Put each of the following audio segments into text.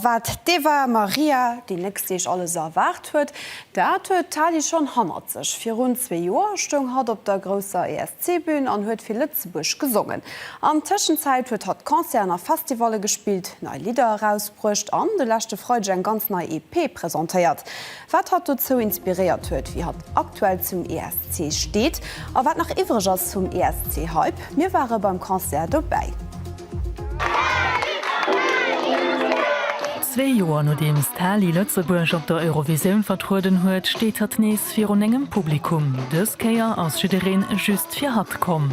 Wat d'Eva Maria déi nächst Deeg alles erwaart huet, dat huet d'Tali schonn hannert sech. Virun zwee Joer stoung hatt op der grousser ESC-Bün an huet fir Lëtzebuerg gesongen. An Tëschenzäit huet hatt Concerten a Festivalle gespillt, nei Lidder erausbruecht an de leschte Freideg eng ganz nei EP presentéiert. wat hatt dozou inspiréiert huet, wéi hatt aktuell zum ESC steet a wat nach iwwereg ass vum ESC-Hype. Mir ware beim Concert dobäi. Zwee Joer nodeems d'Hali Lëtzebuerg op der Eurovisioun vertrueden huet, steet hatt nees virun engem Publikum. Dës Kéier ass jiddereen just fir hatt komm.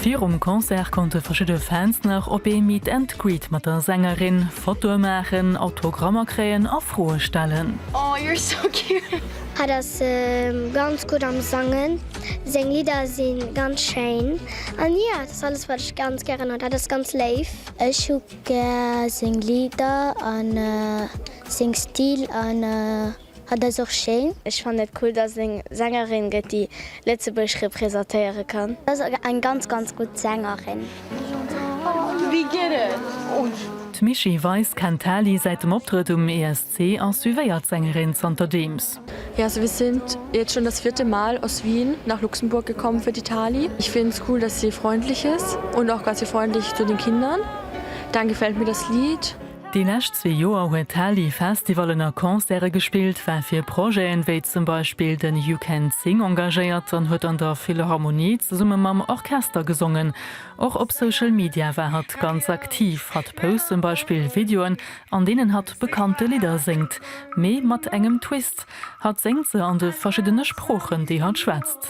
Virum Concert konnte verschidde Fans nach op ee Meet and Greet mat der Sängerin, Fotoe maachen, Autogrammer kréien a Froe stellen. Oh you're so cute! Hat ass ganz gutt am sangen, seng Lidder si ganz schéin an jo dat ass alles wat ech ganz gären hunn, hat ass ganz léif. Ech hu gär seng Lidder an seng Stil an. Hat ass och schéin. Ech fannen et cool dass et eng Sängerin gëtt déi Lëtzebuerg representéieren kann. Dass ass eng ganz ganz gutt Sängerin. Wéi geet et? D'Mischii Weis kennt d'Hali säit dem Optrëtt um ESC a suivéiert d'Sängerin zanterdeems. Ja also wir sind jetzt schon das vierte Mal aus Wien nach Luxemburg gekommen für die Tali. Ich find es cool dass sie freundlich ist und auch ganz freundlich zu den Kindern. Dann gefällt mir das Lied. Déi lescht zwee Joer huet d'Hali Festivallen a Concerte gespillt, war fir Projeten, wéi zum Beispill den You Can Sing engagéiert an huet an der Philharmonie zesumme mam Orchester gesongen. Och op Social Media war hatt ganz aktiv, hatt post zum Beispill Videoen, an deenen hatt bekannte Lidder séngt, mee mat engem Twist, Hatt séngt se an de verschiddene Sproochen, déi hatt schwätzt.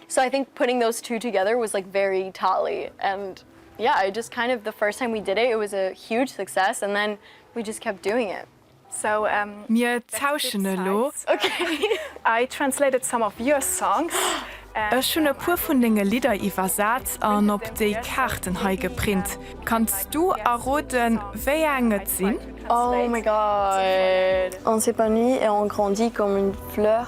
So I think putting those two together was like very tally and yeah I just kind of the first time we did it it was a huge success and then we just kept doing it. So um Mir tauschen elo. I translated some of your songs and Ech hunn e puer vun denge Lidder iwwersat an op déi Kaarten hei geprint. Kanns du erroden wéi eng et sinn? Oh my god! On s'épanouit et on grandit comme une fleur.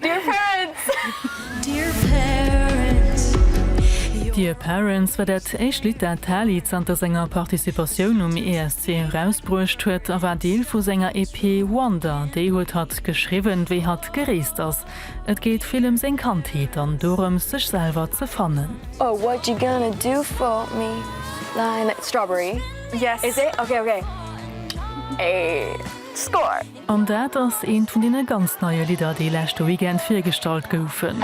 Dear Parents! Dear Parents war dat éischt Lidd dat d'Hali zanter senger Participatioun um ESC erausbruecht huet a war Deel vu senger EP Wonder. Déi huet hatt geschriwwen, wéi hatt gereest ass. Et geet vill ëm seng Kandheet an dorëms, sech selwer ze fannen. Oh what you gonna do for me Lionel Strawberry yes is it? Ok ok Score! An dat ass eent vun deene ganz neie Lidder, déi leschte Weekend virgestallt goufen.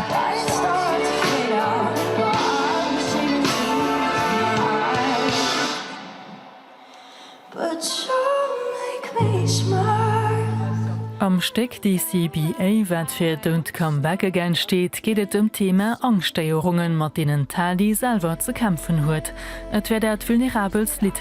Am Stéck DCBA, wat fir Don't Come Back Again steet, geet et ëm d'Thema Angschtstéierungen, mat deenen d'Hady selwer ze kämpfen huet. Et wär dat vulnerabelst Lidd,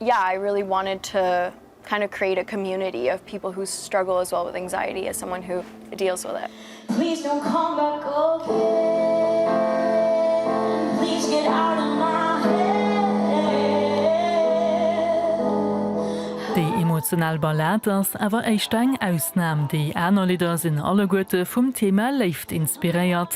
yeah I really wanted to kind of create a community of people who struggle as well with anxiety as someone who deals with it. Please don't come back again Please get out of my head Déi emotional Ballad ass awer éischter eng Ausnam, déi aner Lidder sinn alleguerte vum Thema Léift inspiréiert.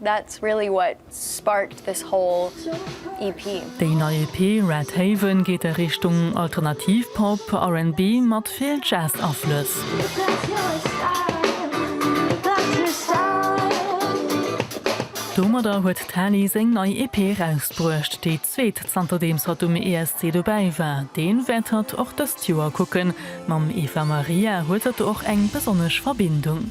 That's really what sparked this whole EP. Déi nei EP Red Haven geet a Richtung alternativ Pop, RnB mat vill Jazz Aflëss. Domadder huet d'Tali seng nei EP erausbruecht, déi zweet zanterdeems hatt um ESC dobäi war. Deen wäert hatt och dëst Joer kucken. Mam Eva Maria huet hatt och eng besonnesch Verbindung.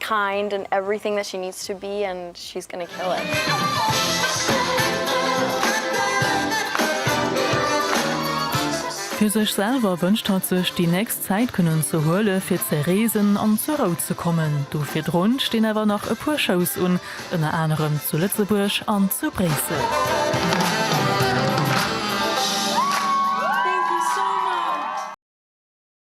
kind and everything that she needs to be and she's gonna kill it. Fir sech selwer wënscht hatt sech déi nächst Zäit kënnen ze huele fir ze reesen an zur Rou ze kommen. Do virdrun stinn awer nach e puer Shows un, ënner anerem zu Lëtzebuerg an zu Bréissel.